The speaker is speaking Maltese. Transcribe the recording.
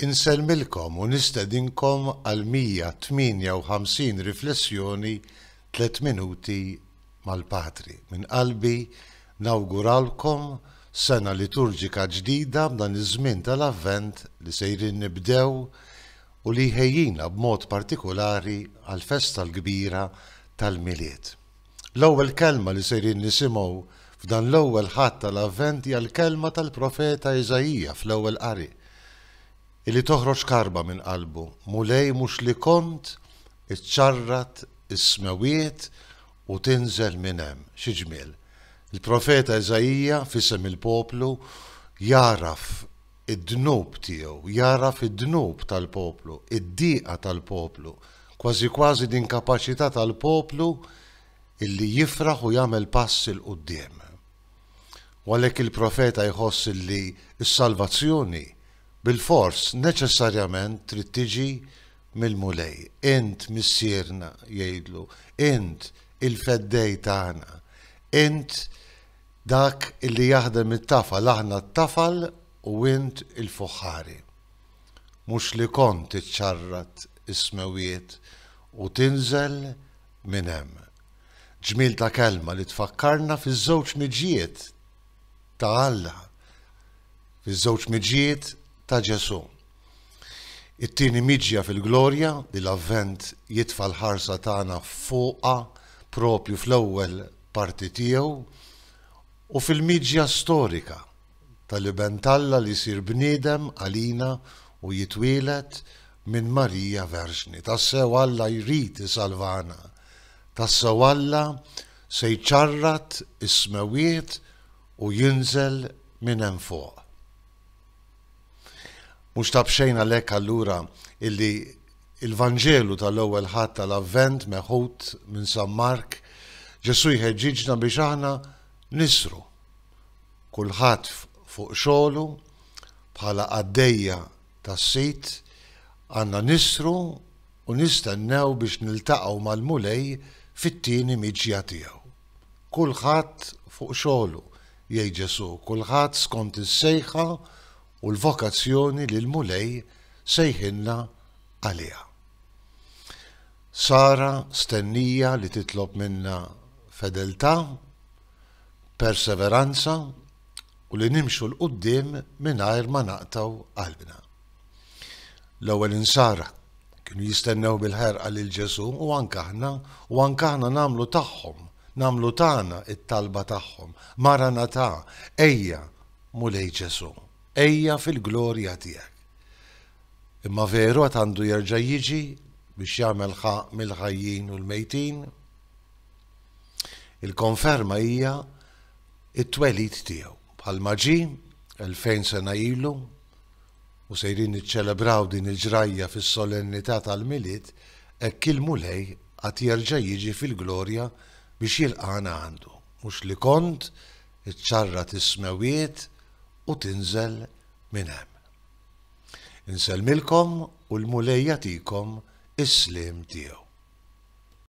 Insellmilkom u nistedinkom għal 158 riflessjoni Tliet Minuti mal-Patri. Minn qalbi nawguralkom sena liturġika ġdida b'dan iż-żmien tal-Avvent li sejrin nibdew u li jħejjina b'mod partikulari għall-festa l-kbira tal-Milied. L-ewwel kelma li sejrin nisimgħu f'dan l-ewwel Ħadd tal-Avvent hija l-kelma tal-profeta Iżaija fl-ewwel qari, illi toħroġ karba minn qalbu, Mulej mhux li kont iċċarrat is-smewwiet u tinżel minn hemm. Xi ġmiel! Il-profeta Iżaija, f'isem il-poplu, jagħraf id-dnub tiegħu, jagħraf id-dnub tal-poplu, id-diqa tal-poplu, kważi kważi l-inkapaċità tal-poplu illi jifraħ u jagħmel pass 'il quddiem. U għalhekk il-profeta jħoss illi s-salvazzjoni bilfors neċessarjament trid tiġi mill-Mulej. Int Missierna, jgħidlu, int il-feddej tagħna, int Dak illi jaħdem it-tafal aħna t-tafal u int il-fuħħari. Mhux li kont iċċarrat is-smewwiet u tinżel minn hemm. Ġmiel ta' kelma li tfakkarna fiż-żewġ miġjiet ta' Alla, fiż-żewġ miġjiet ta' Ġesù. It-tieni miġja fil-glorja li l-Avvent jitfa' l-ħarsa tagħna fuqha proprju fl-ewwel parti tiegħu u fil-miġja storika tal-Iben t'Alla li jsir bniedem għalina u jitwieled minn Marija Verġni. Tassew Alla jrid isalvana. Tassew Alla se jċarrat is-smewwiet u jinżel minn hemm fuq. Mhux ta' b'xejn għalhekk allura illi l-Vanġelu tal-Ewwel Ħadd tal-Avvent meħud minn San Mark, Ġesù jħeġġiġna biex aħna nisru, kulħadd fuq xogħlu, bħala qaddejja tas-sid, għandna nisru u nistennew biex niltaqgħu mal-Mulej fit-tieni miġja tiegħu. Kulħadd fuq xogħlu, Jgħid Ġesù, kulħadd skont is-sejħa u l-vokazzjoni li l-Mulej sejħilna għaliha. Sara stennija li titlob minna fedeltà, perseveranza u li nimxu 'l quddiem mingħajr ma naqtgħu qalbna. L-ewwel insara kienu jistennew bil-ħerqa lil Ġesù u anke aħna, u anke aħna nagħmlu tagħhom, nagħmlu tagħna t-talba tagħhom, Maranatà, ejja, Mulej Ġesù, ejja fil-glorja tiegħek. Imma veru għad għandu jerġa' jiġi biex jagħmel ħa mill-ħajjin u l-mejtin? Il-konferma hija it-twelid tiegħu. Bħalma ġie, elfejn sena ilu, u sejrin niċċelebraw din il-ġrajja fis-solennità tal-Milied, hekk il-Mulej għad jerġa' jiġi fil-glorja biex jilqagħna għandu. Mhux li kont iċċarrat is-smewwiet u tinżel minn hemm. Insellmilkom u l-Mulej jagħtikom is-sliem tiegħu.